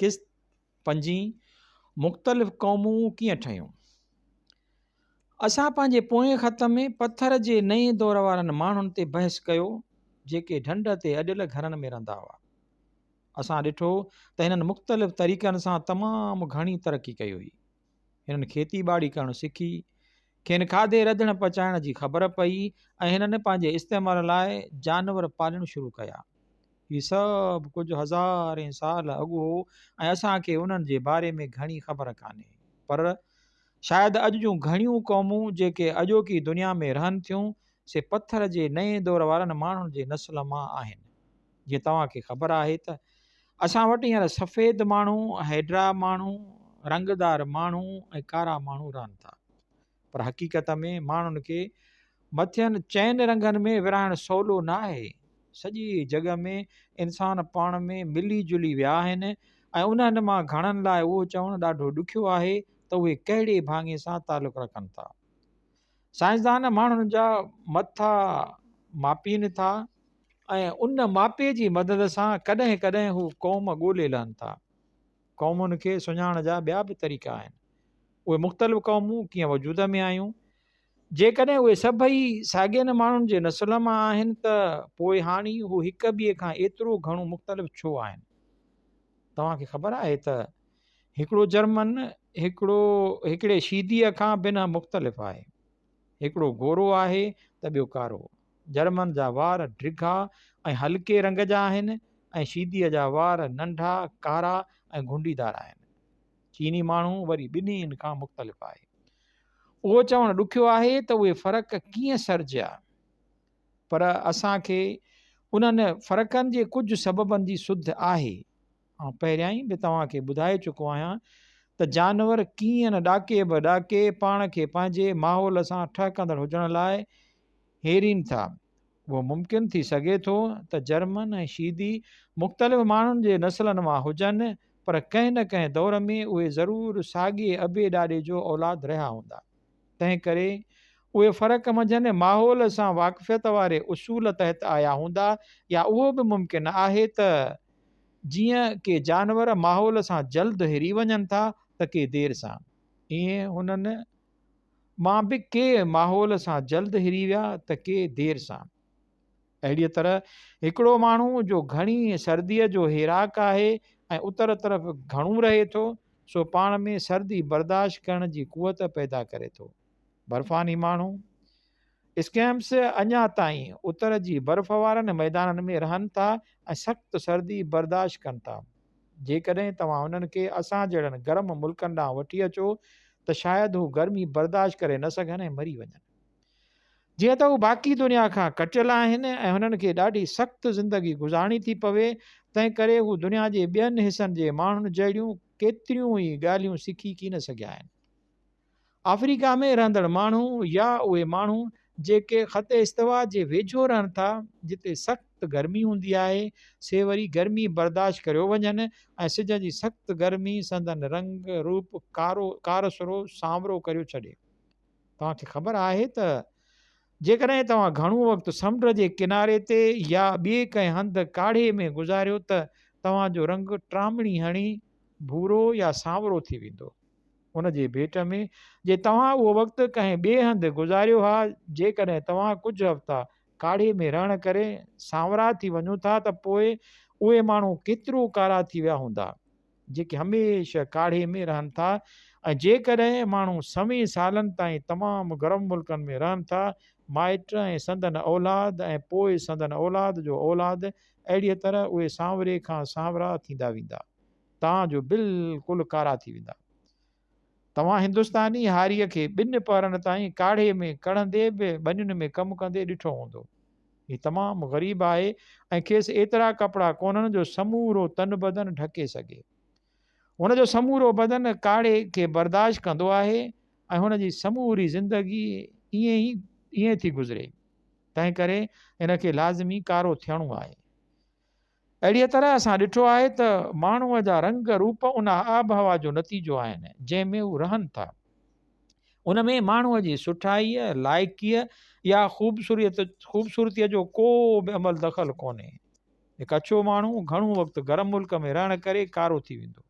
قسط پنجين مختلف قومون ڪيئن ٺهيون؟ اسان پنهنجي پوئين خط ۾ پٿر جي نئين دور وارن ماڻهن تي بحث ڪيو جيڪي ڍنڍ تي اڏيل گهرن ۾ رهندا هئا. اسان ڏٺو ته هنن مختلف طريقن سان تمام گهڻي ترقي ڪئي هئي. هنن کيتي ٻاڙي ڪرڻ سکي. کين کاڌي رڌڻ پچائڻ جي خبر پئي ۽ هنن پنهنجي استعمال لاء جانور پالڻ شروع ڪيا. هي سڀ ڪجهه هزارين سال اڳ هو ۽ اسان کي انهن جي باري ۾ گهڻي خبر ڪانهي. پر شايد اڄ جون گهڻيون قومون جيڪي اڄوڪي دنيا ۾ رهن ٿيون سي پٿر جي نئين دور وارن ماڻهن جي نسل مان آهن. جيئن توهان کي خبر آهي ته اسان وٽ هينئر سفيد ماڻهو هيڊرا ماڻهو رنگ دار ماڻهو ۽ ڪارا ماڻهو رهن ٿا پر حقيقت ۾ ماڻهن کي مٿين چئن رنگن ۾ ورهائڻ سولو نه آهي سڄي جڳ ۾ انسان پاڻ ۾ ملي جلي ويا آهن ۽ انهن مان گهڻن لاء اهو چوڻ ڏاڍو ڏکيو آهي ته اهي ڪهڙي ڀاڱي سان تعلق رکن ٿا سائنسدان ماڻهن جا مت ٿا ماپين ٿا ۽ ان ماپي جي مدد سان ڪڏهن ڪڏهن هو قوم ڳولي لهن ٿا. قومن کي سڃاڻڻ جا ٻيا به طريقا آهن. اهي مختلف قومون ڪيئن وجود ۾ آيون. جيڪڏهن اهي سڀئي ساڳين ماڻهن جي نسل مان آهن ته پوء هاڻي هو هڪ ٻئي کان ايترو گهڻو مختلف ڇو آهن؟ توهان کي خبر آهي ته هڪڙو جرمن هڪڙو هڪڙي شيديء کان بنهه مختلف آهي. هڪڙو گورو آهي ته ٻيو ڪارو. جرمن جا وار ڊگها ۽ هلڪي رنگ جا آهن ۽ شيديء جا وار ننڍا، ڪارا ۽ گهنڊيدار آهن. چيني ماڻهو وري ٻنهي ان کان مختلف آهي. اهو چوڻ ڏکيو آهي ته اهي فرق ڪيئن سرجيا؟ پر اسان کي انهن فرقن جي ڪجهه سببن جي سڌ آهي. آئون پهريائين به توهان کي ٻڌائي چڪو آهيان ته جانور ڪيئن نه ڏاڪي به ڏاڪي پاڻ کي پنهنجي ماحول سان ٺهڪندڙ هجڻ لاء هيرين ٿا. اهو ممڪن ٿي سگهي ٿو ته جرمن ۽ شيدي مختلف ماڻهن جي نسلن مان هجن پر ڪنهن نه ڪنهن دور ۾ اهي ضرور ساڳئي ابي ڏاڏي جو اولاد رهيا هوندا. تنهن ڪري اهي فرق منجهن ماحول سان واقفيت واري اصول تحت آيا هوندا يا اهو به ممڪن آهي ته جيئن ڪي جانور ماحول سان جلد هري وڃن ٿا ته ڪي دير سان. ائين هنن مان به ڪي ماحول سان جلد هري ويا ته ڪي دير سان. اهڙيء طرح هڪڙو ماڻهو جو گهڻيء سرديء جو هيراڪ آهي ۽ اتر طرف گهڻو رهي ٿو، سو پاڻ ۾ سردي برداشت ڪرڻ جي قوت پيدا ڪري ٿو. برفاني ماڻهو، Esquimaux، اڃا تائين اتر جي برف وارن ميدانن ۾ رهن ٿا ۽ سخت سردي برداشت ڪن ٿا. جيڪڏهن توهان هنن کي اسان جهڙن گرم ملڪن ڏانهن وٺي اچو ته شايد هو گرمي برداشت ڪري نه سگهن ۽ مري وڃن. جيئن ته هو باقي دنيا کان ڪٽيل آهن ۽ هنن کي ڏاڍي سخت زندگي گذارڻي ٿي پوي، تنهنڪري هو دنيا جي ٻين حصن جي ماڻهن جهڙيون ڪيتريون ئي ڳالهيون سکي ڪين سگهيا آهن. آفريڪا ۾ رهندڙ ماڻهو يا اهي ماڻهو جيڪي خط استوا جي ويجهو رهن ٿا، جتي سخت گرمي هوندي آهي، سي وري گرمي برداشت ڪريو وڃن ۽ سج جي سخت گرمي سندن رنگ روپ ڪارو، ڪارسرو، سانورو ڪريو ڇڏي. توهان کي خبر آهي ته جيڪڏهن توهان گهڻو وقت سمنڊ جي ڪناري تي يا ٻئي ڪنهن هنڌ ڪاڙهي ۾ گذاريو ته توهان جو رنگ ٽرامڻي هڻي ڀورو يا سانورو ٿي ويندو. ان جي ڀيٽ ۾ جي توهان اهو وقت ڪنهن ٻئي هنڌ گذاريو ها جيڪڏهن توهان ڪجهه هفتا ڪاڙهي ۾ رهڻ ڪري سانورا ٿي وڃو ٿا ته پوء اهي ماڻهو ڪيترو ڪارا ٿي ويا هوندا. جيڪي هميشه ڪاڙهي ۾ رهن ٿا ۽ جيڪڏهن ماڻهو سوين سالن تائين تمام گرم ملڪن ۾ رهن ٿا، مائٽ ۽ سندن اولاد ۽ پوء سندن اولاد جو اولاد، اهڙيء طرح اهي سانوري کان سانورا ٿيندا ويندا، تان جو بلڪل ڪارا ٿي ويندا. توهان هندستاني هاريء کي ٻن پهرن تائين ڪاڙهي ۾ ڪڙهندي به ٻنين ۾ ڪم ڪندي ڏٺو هوندو. هي تمام غريب آهي ۽ کيس ايترا ڪپڙا ڪونهن جو سمورو تن بدن ڍڪي سگهي. هن جو سمورو بدن ڪاڙهي کي برداشت ڪندو آهي ۽ هن جي سموري زندگي ائين ئي ائين ٿي گذري. تنهن ڪري هن کي لازمي ڪارو ٿيڻو آهي. اهڙيء طرح اسان ڏٺو آهي ته ماڻهوء جا رنگ روپ ان آبهوا جو نتيجو آهن، جنهن ۾ هو رهن ٿا. ان ۾ ماڻهوء جي سٺائيء، لائقيء يا خوبصورتيء جو ڪو به عمل دخل ڪونهي. هڪ اڇو ماڻهو گهڻو وقت گرم ملڪ ۾ رهڻ ڪري ڪارو ٿي ويندو.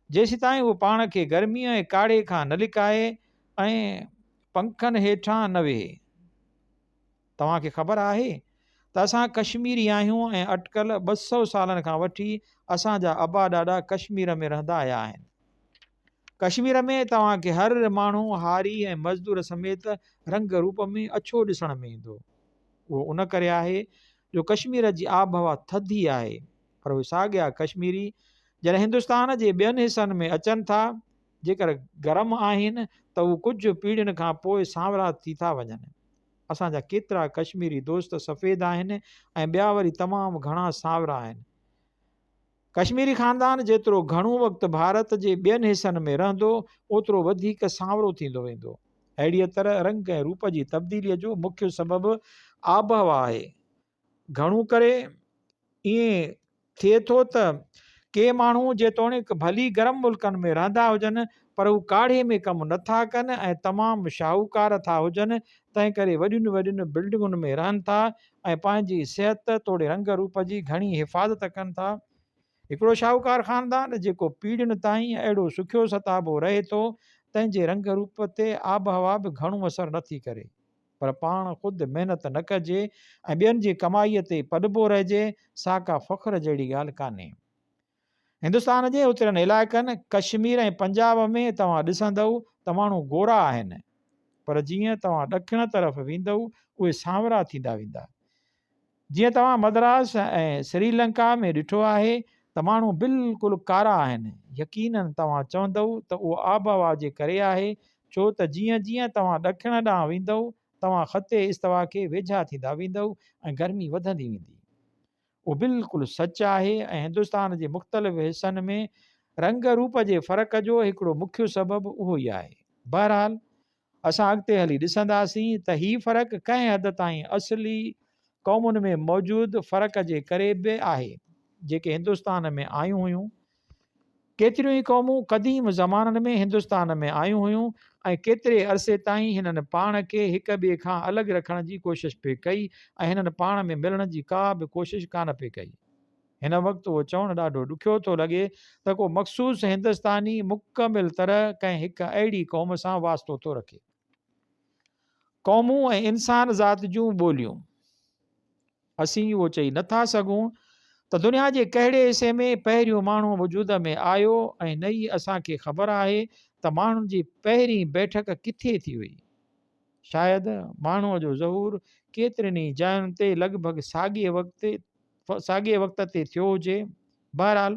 جيسيتائين هو پاڻ کي گرميء ۽ ڪاڙهي کان نه لڪائي ۽ پنکن هيٺان نه ويهي. توهان کي خبر آهي ته اسان ڪشميري آهيون ۽ اٽڪل ٻه سؤ سالن کان وٺي اسان جا ابا ڏاڏا ڪشمير ۾ رهندا آيا آهن. ڪشمير ۾ توهان کي هر ماڻهو هاري ۽ مزدور سميت رنگ روپ ۾ اڇو ڏسڻ ۾ ايندو. اهو ان ڪري آهي جو ڪشمير جي آبهوا ٿڌي آهي پر اهي ساڳيا ڪشميري جڏهن هندستان جي ٻين حصن ۾ اچن ٿا جيڪر گرم آهن ته اهو ڪجهه پيڙهين کان پوء سانورا ٿي ٿا وڃن. اسان جا ڪيترا ڪشميري دوست سفيد آهن ۽ ٻيا وري تمام گهڻا سانورا آهن. ڪشميري خاندان جيترو گهڻو وقت ڀارت جي ٻين حصن ۾ رهندو اوترو وڌيڪ سانورو ٿيندو ويندو. اهڙيء طرح رنگ ۽ روپ جي تبديليء جو مکيه سبب آبهوا آهي. گهڻو ڪري ائين ٿئي ٿو ته ڪي ماڻهو جيتوڻيڪ ڀلي گرم ملڪن ۾ رهندا هجن پر هو ڪاڙهي ۾ ڪم نه ٿا ڪن ۽ تمام شاهوڪار ٿا هجن تنهن ڪري وڏين وڏين بلڊنگن ۾ رهن ٿا ۽ پنهنجي صحت توڙي رنگ روپ جي گهڻي حفاظت ڪن ٿا. هڪڙو شاهوڪار خاندان جيڪو پيڙهين تائين اهڙو سکيو ستابو رهي ٿو تنهن جي رنگ روپ تي آبهوا به گهڻو اثر نه ٿي ڪري. پر پاڻ خود محنت نه ڪجي ۽ ٻين جي ڪمائيء تي پڏبو رهجي، سا ڪا فخر جهڙي ڳالهه ڪانهي. هندستان جي اترين علائقن، ڪشمير ۽ پنجاب ۾ توهان ڏسندؤ ته ماڻهو گورا آهن، پر جيئن توهان ڏکڻ طرف ويندؤ، اهي سانورا ٿيندا ويندا. جيئن توهان مدراس ۽ سري لنڪا ۾ ڏٺو آهي ته ماڻهو بلڪل ڪارا آهن، يقيناً توهان چوندئو ته اهو آبهوا جي ڪري آهي، ڇو ته جيئن جيئن توهان ڏکڻ ڏانهن ويندئو، توهان خط استوا کي ويجها ٿيندا ويندئو ۽ گرمي وڌندي ويندي. اهو بلڪل سچ آهي ۽ هندستان جي مختلف حصن ۾ رنگ روپ جي فرق جو هڪڙو مکيو سبب اهو ئي آهي. بهرحال اسان اڳتي هلي ڏسنداسين ته هي فرق ڪنهن حد تائين اصلي قومن ۾ موجود فرق جي ڪري به آهي، جيڪي هندستان ۾ آيون هيون. ڪيتريون ئي قومون قديم زمانن ۾ هندستان ۾ آيون هيون ۽ ڪيتري عرصي تائين هنن پاڻ کي هڪ ٻئي کان الڳ رکڻ جي ڪوشش پئي ڪئي ۽ هنن پاڻ ۾ ملڻ جي ڪا به ڪوشش ڪانه پئي ڪئي. هن وقت اهو چوڻ ڏاڍو ڏکيو ٿو لڳي ته ڪو مخصوص هندستاني مڪمل طرح ڪنهن هڪ اهڙي قوم سان واسطو ٿو رکي. قومون ۽ انسان ذات جون ٻوليون. اسين اهو چئي نه ٿا سگهون ته دنيا جي ڪهڙي حصي ۾ پهريون ماڻهو وجود ۾ آيو ۽ نه ئي اسان کي خبر آهي ته ماڻهن جي پهرين بيٺڪ ڪٿي ٿي هئي. شايد ماڻهوء جو ظهور ڪيترين ئي جاين تي لڳ ڀڳ ساڳئي وقت ساڳئي وقت تي ٿيو هجي. بهرحال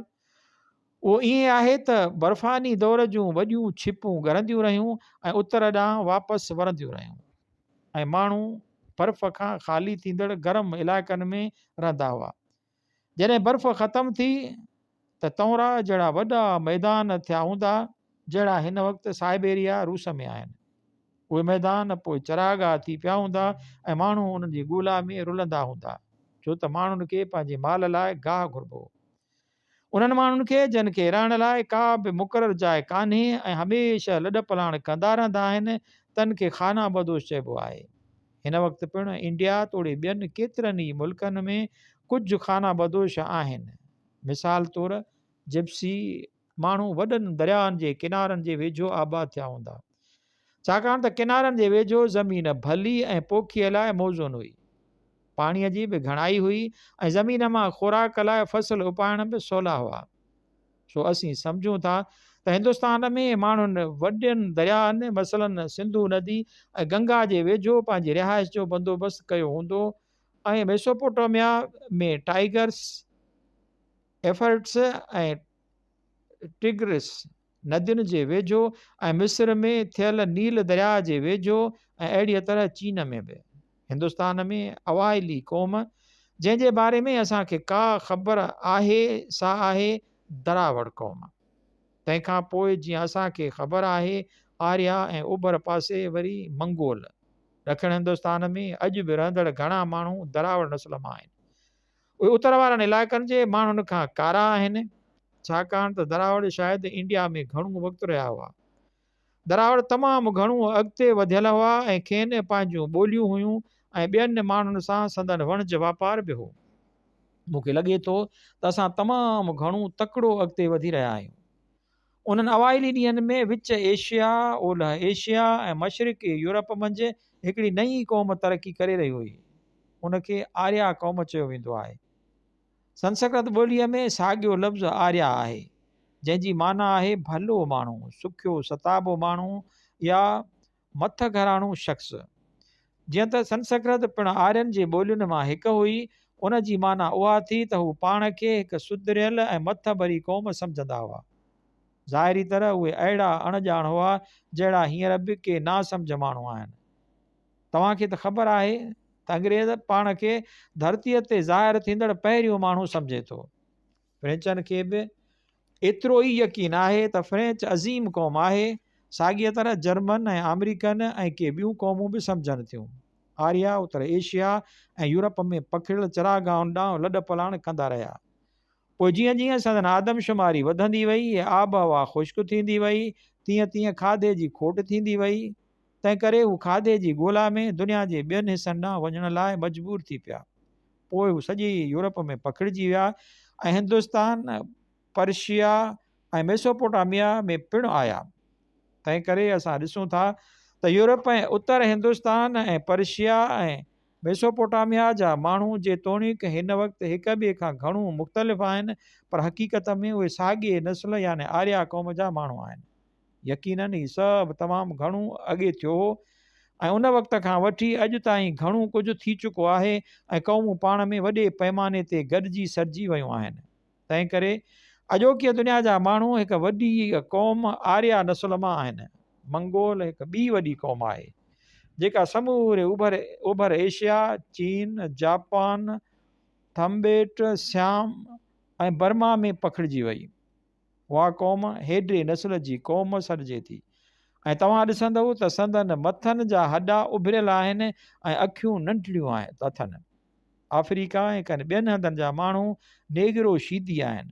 اهو ائين آهي ته برفاني دور جون وڏيون ڇپون ڳرنديون رهيون ۽ اتر ڏانهن واپس ورنديون رهيون ۽ ماڻهو برف کان خالي ٿيندڙ گرم علائقن ۾ رهندا هئا. جڏهن برف ختم ٿي ته تهرا جهڙا وڏا ميدان ٿيا هوندا جهڙا هن وقت سائبيريا، روس، ۾ آهن. اهي ميدان پوء چراگاهه ٿي پيا هوندا ۽ ماڻهو انهن جي ڳولا ۾ رلندا هوندا ڇو ته ماڻهن کي پنهنجي مال لاء گاهه گهربو هو. انهن ماڻهن کي جن کي رهڻ لاء ڪا به مقرر جاء ڪانهي ۽ هميشه لڏپلاڻ ڪندا رهندا آهن تن کي خانه بدوش چئبو آهي. هن وقت پڻ انڊيا توڙي ٻين ڪيترن ئي ملڪن ۾ ڪجهه خانه بدوش آهن. مثال طور جپسي ماڻهو وڏن درياهن جي ڪنارن جي ويجهو آباد ٿيا هوندا، ڇاڪاڻ ته ڪنارن جي ويجهو زمين ڀلي ۽ پوکيء لاء موزون هئي. پاڻيء جي به گهڻائي هئي ۽ زمين مان خوراڪ لاء فصل اپائڻ به سولا هئا. سو اسين سمجهون ٿا ته هندستان ۾ ماڻهن وڏن درياهن مثلاً سنڌو ندي ۽ گنگا جي ويجهو پنهنجي رهائش جو بندوبست ڪيو هوندو ۽ ۽ ميسوپوٽاميا ۾ ٽائيگرس، ايفرٽس ۽ ٽگرس ندين جي ويجهو ۽ مصر ۾ ٿيل نيل درياء جي ويجهو ۽ اهڙيء طرح چين ۾ به. هندستان ۾ اوائلي قوم جنهن جي باري ۾ اسان کي ڪا خبر آهي سا آهي دراوڙ قوم. تنهن کان پوء جيئن اسان کي خبر آهي آريا ۽ اوڀر پاسي وري منگول. ڏکڻ هندستان ۾ اڄ به رهندڙ گهڻا ماڻهو دراوڙ نسل مان آهن. اهي اتر وارن علائقن جي ماڻهن کان ڪارا آهن، ڇاڪاڻ ته دراوڙ شايد انڊيا ۾ گهڻو وقت رهيا هئا. دراوڙ تمام گهڻو اڳتي وڌيل هئا ۽ کين پنهنجون ٻوليون هيون ۽ ٻين ماڻهن سان سندن وڻج واپار به هو. مون کي لڳي ٿو ته اسان تمام گهڻو تڪڙو اڳتي وڌي رهيا آهيون. انهن اوائلي ڏينهن ۾ وچ ايشيا، اولهه ايشيا ۽ مشرقي يورپ منجهه هڪڙي نئين قوم ترقي ڪري رهي هئي. ان کي آريا قوم چيو ويندو آهي. سنسڪرت ٻوليء ۾ ساڳيو لفظ آريا آهي، جنهن جي معنيٰ آهي ڀلو ماڻهو، سکيو ستابو ماڻهو يا مٿ گهراڻو شخص، جيئن ته سنسڪرت پڻ آرين جي ٻولين مان هڪ هئي، ان جي معنيٰ اها ٿي ته هو پاڻ کي هڪ سڌريل ۽ مٿ ڀري قوم سمجهندا هئا. ظاهري طرح اهي اهڙا اڻ ڄاڻ هئا، جهڙا هينئر به ڪي ناسمجهه ماڻهو آهن. توهان کي ته خبر آهي ته انگريز پاڻ کي ڌرتيء تي ظاهر ٿيندڙ پهريون ماڻهو سمجهي ٿو. فرينچن کي به ايترو ئي يقين آهي ته فرينچ عظيم قوم آهي، ساڳيء طرح جرمن ۽ آمريڪن ۽ ڪي ٻيون قومون به سمجهن ٿيون. آريا اتر ايشيا ۽ يورپ ۾ پکڙيل چراگاهن ڏانهن لڏپلاڻ ڪندا رهيا. پوء جيئن جيئن سندن آدمشماري وڌندي وئي ۽ آبهوا خشڪ ٿيندي وئي، تيئن تيئن کاڌي جي کوٽ ٿيندي وئي. تنهنڪري هو کاڌي جي ڳولا ۾ دنيا جي ٻين حصن ڏانهن وڃڻ لاء مجبور ٿي پيا. پوء هو سڄي يورپ ۾ پکڙجي ويا ۽ هندستان، پرشيا ۽ ميسوپوٽاميا ۾ پڻ آيا. تنهنڪري اسان ڏسون ٿا ته Europe ۽ Uttar Hindustan ۽ Persia ۽ Mesopotamia جا ماڻهو جيتوڻيڪ هن وقت هڪ ٻئي کان گهڻو مختلف آهن پر حقيقت ۾ اهي ساڳئي نسل يعني آريا قوم جا ماڻهو آهن. يقينن هي سڀ تمام گهڻو اڳي ٿيو هو ۽ ان وقت کان وٺي اڄ تائين گهڻو ڪجهه ٿي چڪو آهي ۽ قومون پاڻ ۾ وڏي پئماني تي گڏجي سڏجي ويون آهن. تنهن ڪري اڄوڪيء دنيا جا ماڻهو هڪ وڏي قوم آريا نسل مان آهن. منگول هڪ ٻي وڏي قوم آهي، جيڪا سموري اوڀر اوڀر ايشيا، چين، جاپان، ٿمبيٽ، سيام ۽ برما ۾ پکڙجي وئي. اها قوم هيڊري نسل جي قوم سڏجي ٿي ۽ توهان ڏسندؤ ته سندن مٿن جا هڏا اڀريل آهن ۽ اکيون ننڍڙيون اٿن. آفريڪا ۽ ڪن ٻين هنڌن جا ماڻهو نيگرو شيدي آهن.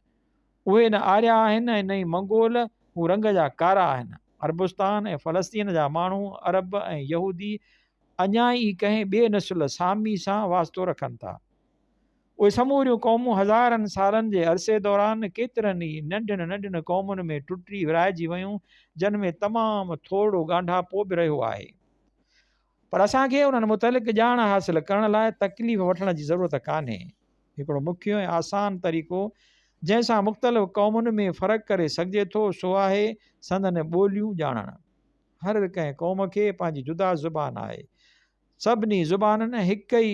اهي نه آريا آهن ۽ نه ئي منگول، هو رنگ جا ڪارا آهن. عربستان ۽ فلسطين جا ماڻهو، عرب ۽ يهودي، اڃا ئي ڪنهن ٻي نسل، سامي، سان واسطو رکن ٿا. اهي سموريون قومون هزارن سالن جي عرصي دوران ڪيترن ئي ننڍن ننڍن قومن ۾ ٽٽي ورهائجي ويون جن ۾ تمام ٿورڙو ڳانڍاپو به رهيو آهي پر اسان کي انهن متعلق ڄاڻ حاصل ڪرڻ لاء تڪليف وٺڻ جي ضرورت ڪانهي هڪڙو مکيو ۽ آسان طريقو جنهن سان مختلف قومن ۾ فرق ڪري سگهجي ٿو سو آهي سندن ٻوليون ڄاڻڻ هر ڪنهن قوم کي پنهنجي جدا زبان آهي سڀني زبانن هڪ ئي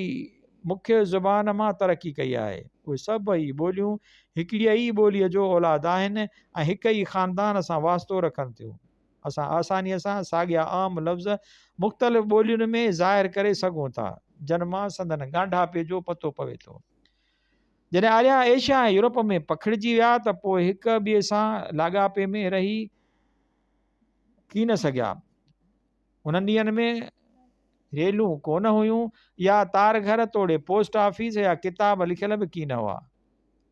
مکيه زبان مان ترقي ڪئي آهي. اهي سڀئي ٻوليون هڪڙيء ئي ٻوليء جو اولاد آهن ۽ هڪ ئي خاندان سان واسطو رکن ٿيون. اسان آسانيء سان ساڳيا عام لفظ مختلف ٻولين ۾ ظاهر ڪري سگهون ٿا، جن مان سندن ڳانڍاپي جو پتو پوي ٿو. جڏهن آريا ايشيا ۽ يورپ ۾ پکڙجي ويا ته پوء هڪ ٻئي سان لاڳاپي ۾ رهي ڪين سگهيا. انهن ڏينهن ۾ ريلون ڪونه هيون يا تار گهر توڙي پوسٽ آفيس يا ڪتاب لکيل به ڪين هئا.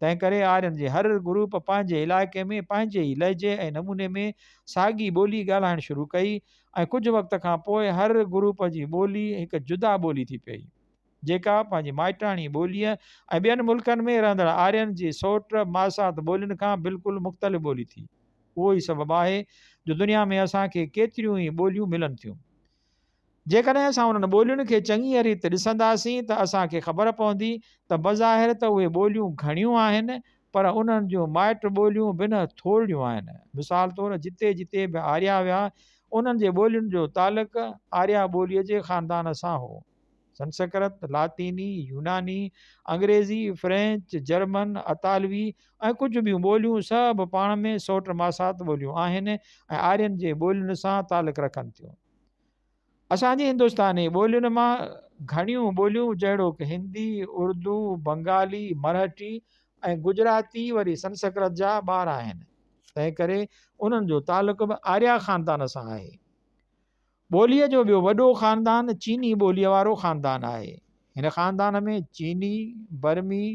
تنهن ڪري آرين جي هر گروپ پنهنجي علائقي ۾ پنهنجي ئي لهجي ۽ نموني ۾ ساڳي ٻولي ڳالهائڻ شروع ڪئي ۽ ڪجهه وقت کان پوء هر گروپ جي ٻولي هڪ جدا ٻولي ٿي پئي. جيڪا پنهنجي مائٽاڻي ٻوليء ۽ ٻين ملڪن ۾ رهندڙ آرين جي سوٽ ماسات ٻولين کان بلڪل مختلف ٻولي ٿي. اهو ئي سبب آهي جو دنيا ۾ اسان کي ڪيتريون ئي ٻوليون ملن ٿيون. جيڪڏهن اسان انهن ٻولين کي چڱيء ريت ڏسنداسين ته اسان کي خبر پوندي ته بظاهر ته اهي ٻوليون گهڻيون آهن پر انهن جون مائٽ ٻوليون بنهه ٿورڙيون آهن. مثال طور جتي جتي به آريا هيا انهن جي ٻولين جو تعلق آريا ٻوليء جي خاندان سان هو. سنسڪرت، لاطيني، يوناني، انگريزي، فرينچ، جرمن، اطالوي ۽ ڪجهه ٻيون ٻوليون سڀ پاڻ ۾ سوٽ ماسات ٻوليون آهن ۽ آرين جي ٻولين سان تعلق رکن ٿيون. اسان جي هندستاني ٻولين مان گهڻيون ٻوليون جهڙوڪ هندي، اردو، بنگالي، مرهٽي ۽ گجراتي وري سنسڪرت جا ٻار آهن، تنهنڪري انهن جو تعلق به آريا خاندان سان آهي. ٻوليء جو ٻيو وڏو خاندان چيني ٻوليء وارو خاندان آهي. هن خاندان ۾ چيني، برمي،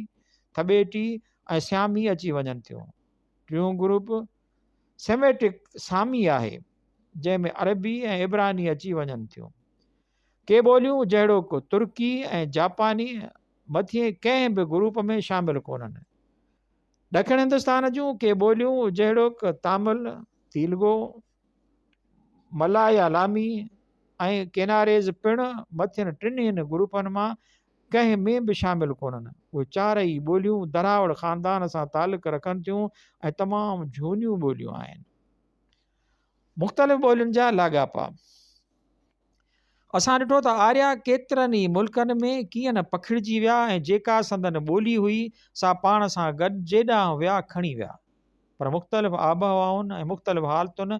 ٿٻيٽي ۽ سيامي اچي وڃن ٿيون. ٽيون گروپ سيميٽڪ سامي آهي، جنهن ۾ عربي ۽ عبراني اچي وڃن ٿيون. ڪي ٻوليون جهڙوڪ ترڪي ۽ جاپاني مٿئين ڪنهن به گروپ ۾ شامل ڪونهن. ڏکڻ هندستان جون ڪي ٻوليون جهڙوڪ تامل، تيلگو، ملاء يا لامي ۽ ڪيناريز پڻ مٿين ٽنهين گروپن مان ڪنهن ۾ به شامل ڪونهن. اهي چار ئي ٻوليون دراوڙ خاندان سان تعلق رکن ٿيون ۽ تمام جهونيون ٻوليون آهن. مختلف ٻولين جا لاڳاپا. اسان ڏٺو ته آريا ڪيترن ئي ملڪن ۾ ڪيئن نه پکڙجي ويا ۽ جيڪا سندن ٻولي هئي سا پاڻ سان گڏ جيڏانهن ويا کڻي ويا. پر مختلف آبهوائن ۽ مختلف حالتن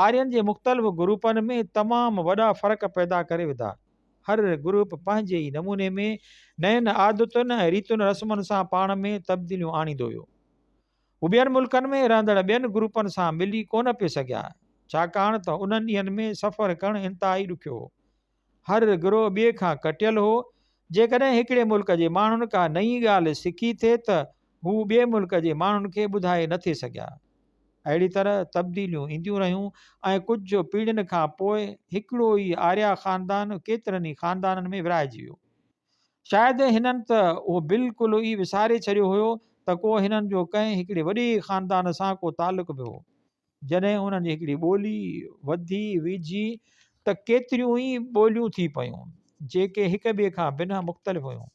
آرين جي مختلف گروپن ۾ تمام وڏا فرق پيدا ڪري وڌا. هر گروپ پنهنجي ئي نموني ۾ نين عادتن ۽ ريتن رسمن سان پاڻ ۾ تبديليون آڻيندو ويو. هو ٻين ملڪن ۾ رهندڙ ٻين گروپن سان ملي ڪونه پئي سگهيا، ڇاڪاڻ ته انهن ڏينهن ۾ سفر ڪرڻ انتهائي ڏکيو هو. هر گروهه ٻئي کان ڪٽيل هو. جيڪڏهن هڪڙي ملڪ جي ماڻهن ڪا نئين ڳالهه سکي ٿي ته هو ٻئي ملڪ جي ماڻهن کي ٻڌائي نه ٿي سگهيا. اهڙي طرح تبديليون اينديون رهيون ۽ ڪجهه پيڙهين کان پوء هڪڙو ئي آريا خاندان ڪيترن ئي خاندانن ۾ ورهائجي ويو. شايد هنن ته اهو بلڪل ئي وساري ڇڏيو هيو ته ڪو هنن جو ڪنهن هڪڙي وڏي خاندان سان ڪو تعلق به هو. جڏهن هنن جي هڪڙي ٻولي وڌي ويجهي ته ڪيتريون ئي ٻوليون ٿي پيون، جيڪي هڪ ٻئي کان بنهه مختلف هيون.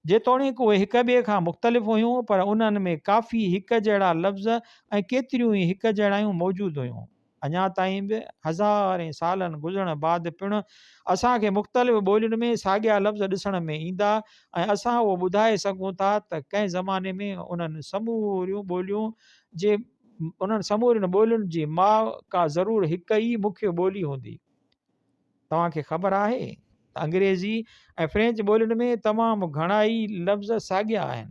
جيتوڻيڪ اهي هڪ ٻئي کان مختلف هيون پر انهن ۾ ڪافي هڪجهڙا لفظ ۽ ڪيتريون ئي هڪجهڙايون موجود هيون. اڃا تائين به هزارين سالن گذرڻ بعد پڻ اسان کي مختلف ٻولين ۾ ساڳيا لفظ ڏسڻ ۾ ايندا ۽ اسان اهو ٻڌائي سگهون ٿا ته ڪنهن زماني ۾ انهن سموريون ٻوليون جي انهن سمورين ٻولين جي ماء ڪا ضرور هڪ ئي مکيه ٻولي هوندي. توهان کي خبر آهي ته انگريزي ۽ فرينچ ٻولين ۾ تمام گهڻائي لفظ ساڳيا آهن.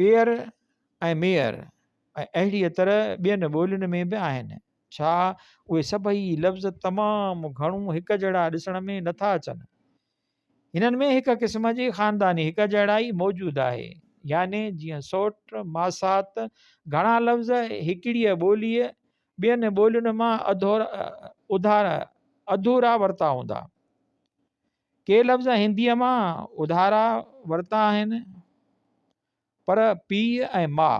پيئر ۽ ميئر ۽ اهڙيء طرح ٻين ٻولين ۾ به آهن. ڇا اهي سڀئي لفظ تمام گهڻو هڪجهڙا ڏسڻ ۾ نه ٿا اچن؟ هنن ۾ هڪ قسم جي خانداني هڪجهڙائي موجود آهي. يعني جيئن سوٽ، ماسات، گهڻا لفظ هڪڙيء ٻوليء ٻين ٻولين مان اڌورا ورتا هوندا. ڪي لفظ هنديء مان اڌارا ورتا آهن، پر پيء ۽ ماء،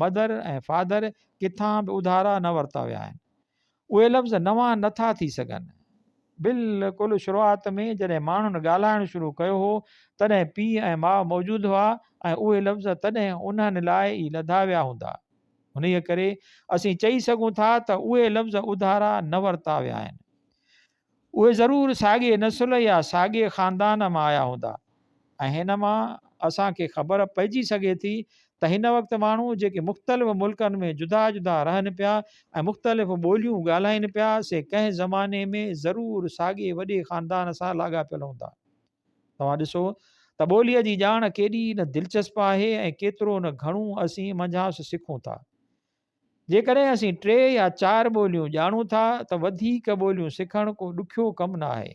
Mother ۽ Father، ڪٿان به اڌارا نه ورتا ويا آهن. اهي لفظ نوان نه ٿا ٿي سگهن. بلڪل شروعات ۾ جڏهن ماڻهن ڳالهائڻ شروع ڪيو هو، تڏهن پيء ۽ ماء موجود هئا ۽ اهي لفظ تڏهن انهن لاء ئي لڌا ويا هوندا. انهيء ڪري اسين چئي سگهون ٿا ته اهي لفظ اڌارا نه ورتا ويا آهن. اهي ضرور ساڳئي نسل يا ساڳئي خاندان مان آيا هوندا ۽ هن مان اسان کي خبر پئجي سگهي ٿي ته هن وقت ماڻهو جيڪي مختلف ملڪن ۾ جدا جدا رهن پيا ۽ مختلف ٻوليون ڳالهائين پيا سي ڪنهن زماني ۾ ضرور ساڳئي وڏي خاندان سان لاڳاپيل هوندا. توهان ڏسو ته ٻوليء جي ڄاڻ ڪيڏي نه دلچسپ آهي ۽ ڪيترو نه گهڻو اسين منجهانئس سکون ٿا. جيڪڏهن اسين ٽي يا چار ٻوليون ڄاڻون ٿا ته وڌيڪ ٻوليون سکڻ ڪو ڏکيو ڪم نه آهي.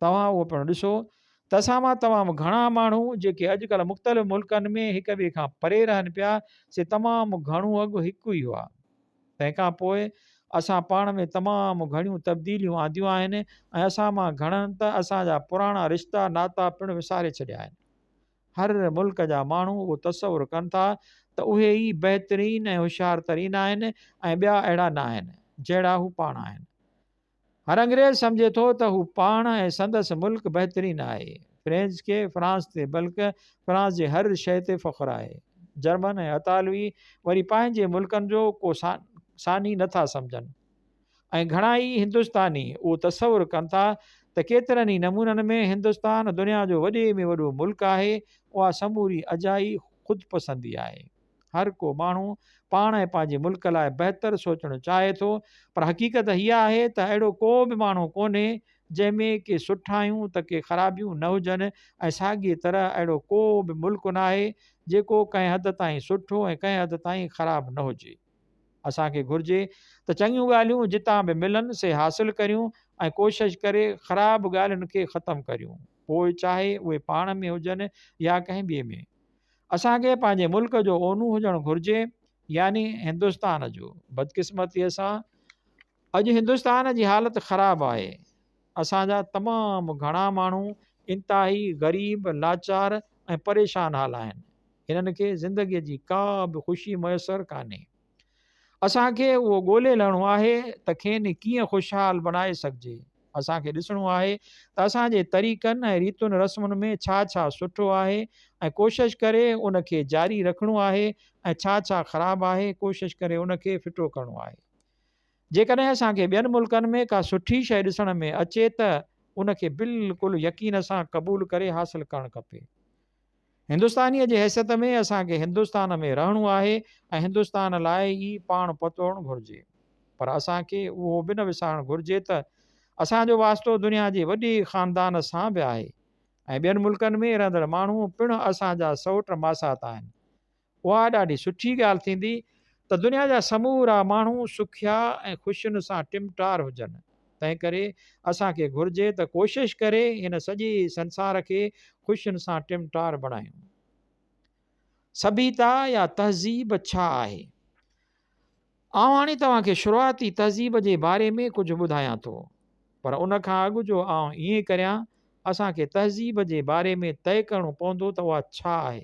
توهان اهو پڻ ڏسو ته اسان مان تمام گهڻا ماڻهو جيڪي اڄڪلهه مختلف ملڪن ۾ هڪ ٻئي کان پري رهن پيا سي تمام گهڻو اڳ هڪ ئي هئا. تنهن کان پوء اسان پاڻ ۾ تمام گهڻيون تبديليون آنديون آهن ۽ اسان مان گهڻن ته اسان جا پراڻا رشتا ناتا پڻ وساري ڇڏيا آهن. هر ملڪ جا ماڻهو اهو تصور ڪن ٿا ته اهي ئي بهترين ۽ هوشيار ترين آهن ۽ ٻيا اهڙا نه آهن، جهڙا هو پاڻ آهن. هر انگريز سمجهي ٿو ته هو پاڻ ۽ سندس ملڪ بهترين آهي. فرينچ کي فرانس تي بلڪ فرانس جي هر شيء تي فخر آهي. جرمن ۽ اطالوي وري پنهنجي ملڪن جو ڪو ثاني نه ٿا سمجهن. ۽ گهڻا ئي هندستاني اهو تصور ڪن ٿا ته ڪيترن ئي نمونن ۾ هندستان دنيا جو وڏي ۾ وڏو ملڪ آهي، اها سموري اجائي خود پسندي آهي. هر ڪو ماڻهو پاڻ ۽ پنهنجي ملڪ لاء بهتر سوچڻ چاهي ٿو پر حقيقت اها آهي ته اهڙو ڪو به ماڻهو ڪونهي جنهن ۾ ڪي سٺايون ته ڪي خرابيون نه هجن ۽ ساڳيء طرح اهڙو ڪو به ملڪ ناهي جيڪو ڪنهن حد تائين سٺو ۽ ڪنهن حد تائين خراب نه هجي. اسان کي گهرجي ته چڱيون ڳالهيون جتان به ملن سي حاصل ڪريون ۽ ڪوشش ڪري خراب ڳالهين کي ختم ڪريون پوء چاهي اهي پاڻ ۾ هجن يا ڪنهن ٻئي ۾. اسان کي پنهنجي ملڪ جو اونو هجڻ گهرجي يعني هندستان جو. بدقسمتيء سان اڄ هندستان جي حالت خراب آهي، اسان جا تمام گهڻا ماڻهو انتهائي غريب، لاچار ۽ پريشان حال آهن، هنن کي زندگي جي ڪا به خوشي ميسر ڪانهي، اسان کي اهو ڳولي لهڻو آهي ته کين ڪيئن خوشحال بڻائي سگهجي، اسان کي ڏسڻو آهي ته اسان جي طريقن ۽ ريتن رسمن ۾ ڇا ڇا سٺو آهي ۽ ڪوشش ڪري ان کي جاري رکڻو آهي ۽ ڇا ڇا خراب آهي ڪوشش ڪري ان کي ڦٽو ڪرڻو آهي. جيڪڏهن اسان کي ٻين ملڪن ۾ ڪا سٺي شيء ڏسڻ ۾ اچي ته ان کي بلڪل يقين سان قبول ڪري حاصل ڪرڻ کپي. هندستانيء جي حيثيت ۾ اسان کي هندستان ۾ رهڻو آهي ۽ هندستان لاء ئي پاڻ پتوڙڻ گهرجي. پر اسان کي اهو به نه وسارڻ گهرجي ته اسان جو واسطو دنيا جي وڏي خاندان سان به آهي ۽ ٻين ملڪن ۾ رهندڙ ماڻهو پڻ اسان جا سئوٽ ماسات آهن. اها ڏاڍي سٺي ڳالهه ٿيندي ته دنيا جا سمورا ماڻهو سکيا ۽ خوشين سان ٽمٽار هجن. تنهن ڪري اسان کي گهرجي ته ڪوشش ڪري هن سڄي سنسار کي خوشين سان ٽمٽار بڻايون. سڀيتا يا تهذيب ڇا آهي؟ آئون هاڻي توهان کي شروعاتي تهذيب جي باري ۾ ڪجهه ٻڌايان ٿو. پر ان کان اڳ جو آئون ائين ڪريان، اسان کي تهذيب جي باري ۾ طئي ڪرڻو پوندو ته اها ڇا آهي؟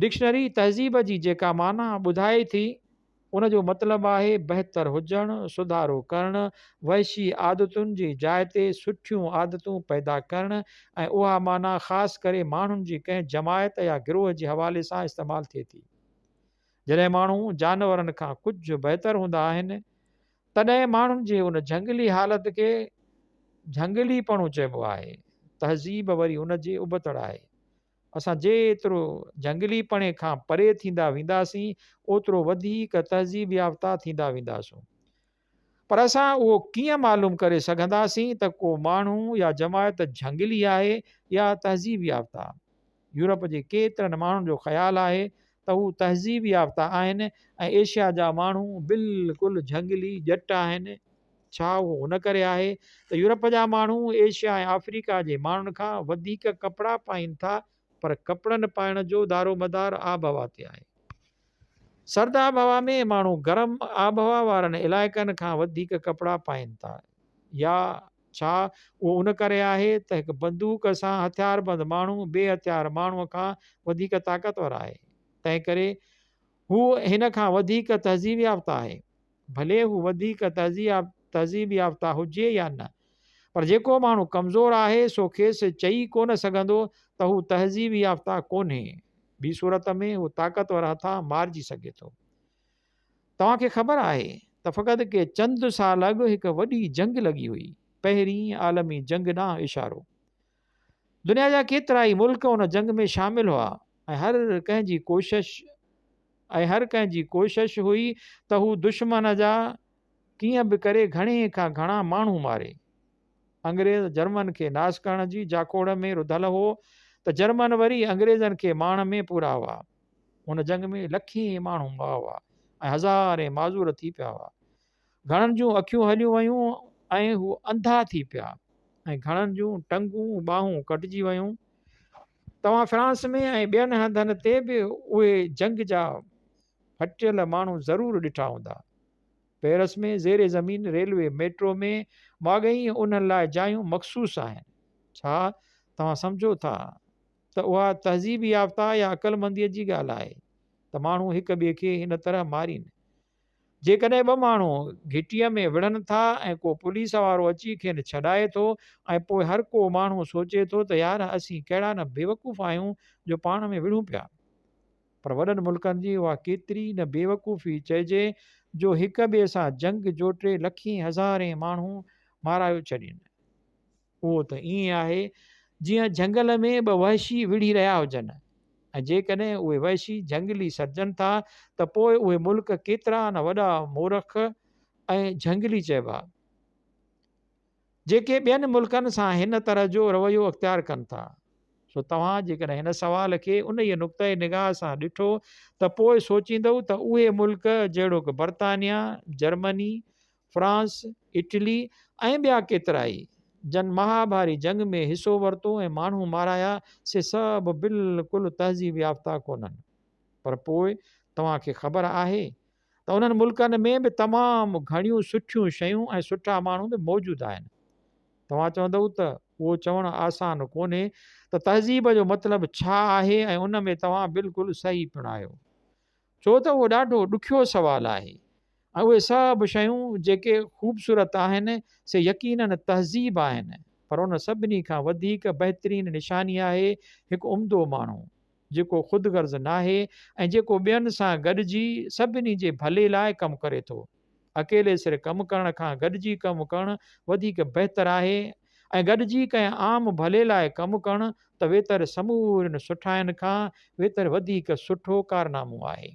ڊڪشنري تهذيب جي جيڪا معنيٰ ٻڌائي ٿي، ان جو مطلب آهي بهتر هجڻ، سڌارو ڪرڻ، وحشي عادتن جي جاء تي سٺيون عادتون پيدا ڪرڻ ۽ اها معنيٰ خاص ڪري ماڻهن جي ڪنهن جماعت يا گروهه جي حوالي سان استعمال ٿئي ٿي. جڏهن ماڻهو جانورن کان ڪجهه بهتر هوندا آهن، تڏهن ماڻهن جي ان جهنگلي حالت کي جهنگليپڻو چئبو آهي. تهذيب وري ان جي ابتڙ آهي. اسان جيترو جهنگلي پڻي کان پري ٿيندا وينداسين، اوترو وڌيڪ تهذيب يافته ٿيندا وينداسون. پر اسان اهو ڪيئن معلوم ڪري سگهنداسين ته ڪو ماڻهو يا جماعت جهنگلي آهي يا تهذيب يافته؟ يورپ جي ڪيترن ماڻهن جو خيال آهي ته هو تهذيب يافته آهن ۽ ايشيا جا ماڻهو بلڪل جهنگلي ڄٽ آهن. ڇا اهو ان ڪري آهي ته يورپ جا ماڻهو ايشيا ۽ آفريڪا جي ماڻهن کان وڌيڪ ڪپڙا پائين ٿا پر ڪپڙن پائڻ جو دارومدار آبهوا تي آهي. سرد آبهوا ۾ ماڻهو گرم آبهوا وارن علائقن کان وڌيڪ ڪپڙا پائين ٿا يا ڇا اهو ان ڪري آهي ته هڪ بندوق سان هٿياربند ماڻهو بي هٿيار ماڻهوء کان وڌيڪ طاقتور آهي، تنهن ڪري هو هن کان وڌيڪ تهذيب يافته آهي. ڀلي هو وڌيڪ تهذيب يافته هجي يا نه، پر جيڪو ماڻهو ڪمزور آهي، سو کيس چئي ڪو نه سگهندو ته هو تهذيب يافته ڪونهي. ٻي صورت ۾ هو طاقتور هٿان مارجي سگهي ٿو. توهان کي خبر آهي ته فقط ڪي چند سال اڳ هڪ وڏي جنگ لڳي هئي، پهرين عالمي جنگ ڏانهن اشارو. دنيا جا ڪيترائي ملڪ ان جنگ ۾ شامل هئا ۽ هر ڪنهن جي ڪوشش ۽ هر ڪنهن جي ڪوشش هئي ته هو دشمن جا ڪيئن به ڪري گهڻي کان گهڻا ماڻهو ماري. انگريز جرمن کي ناس ڪرڻ جي جاکوڙ ۾ رڌل هو ته جرمن وري انگريزن کي ماڻ ۾ پورا هئا. ان جنگ ۾ لکين ماڻهو مئا هئا ۽ هزارين معذور ٿي پيا هئا. گهڻن جون اکيون هليون ويون ۽ هو انڌا ٿي پيا ۽ گهڻن جون ٽنگون ٻانهون ڪٽجي ويون. توهان فرانس ۾ ۽ ٻين هنڌن تي به اهي جنگ جا ڦٽيل ماڻهو ضرور ڏٺا هوندا. پيرس ۾ زير زمين ريلوي ميٽرو ۾ ماڳهين انهن لاء جايون مخصوص آهن. ڇا توهان سمجهو ٿا ته اها تهذيب يافته يا عقلمنديء جي ڳالهه آهي ته ماڻهو هڪ ٻئي کي هن طرح مارين. جيڪڏهن ٻه ماڻهو گهٽيء ۾ وڙهن ٿا ۽ ڪو پوليس وارو اچي کين ڇڏائي ٿو ۽ پوء هر ڪو ماڻهو سوچي ٿو ته يار اسين ڪهڙا نه بيوقوف آهيون جو پاڻ ۾ وڙهون پيا. پر وڏن ملڪن جي اها ڪيتري نه بيوقوفي چئجي جو هڪ ٻئي سان جنگ جوٽي لکين هزارين ماڻهو مارايو ڇڏين. اهو ته ائين آهي جيئن جهنگل ۾ ٻه وحشي وڙهي رهيا هجن ۽ جيڪڏهن اهي وحشي جهنگلي سڏجن ٿا ته پوء اهي ملڪ ڪيترا نه وڏا مورخ ۽ جهنگلي چئبا جيڪي ٻين ملڪن سان هن طرح جو رويو اختيار ڪن ٿا سو توهان جيڪڏهن هن سوال کي ان ئي نقطه نگاهه سان ڏٺو ته پوء سوچيندو ته اهي ملڪ جهڙوڪ برطانيا جرمني فرانس، اٽلي ۽ ٻيا ڪيترائي جن مهاڀاري جنگ ۾ حصو ورتو ۽ ماڻهو مارايا سي سڀ بلڪل تهذيب يافته ڪونهن پر پوء توهان کي خبر آهي ته انهن ملڪن ۾ به تمام گهڻيون سٺيون شيون ۽ سٺا ماڻهو به موجود آهن. توهان چوندئو ته اهو چوڻ آسان ڪونهي ته تهذيب جو مطلب ڇا آهي ۽ ان ۾ توهان بلڪل صحيح پڻ آهيو. ڇو ته اهو ڏاڍو ڏکيو سوال آهي ۽ اهي سڀ شيون جيڪي خوبصورت آهن سي يقينن تهذيب آهن پر ان سڀني کان وڌيڪ بهترين نشاني آهي هڪ عمدو ماڻهو جيڪو خودغرض ناهي ۽ جيڪو ٻين سان گڏجي سڀني جي ڀلي لاء ڪم ڪري ٿو. اڪيلي سر ڪم ڪرڻ کان گڏجي ڪم ڪرڻ وڌيڪ بهتر آهي ۽ گڏجي ڪنهن عام ڀلي لاء ڪم ڪرڻ ته ويتر سمورين سٺاين کان ويتر وڌيڪ سٺو ڪارنامو آهي.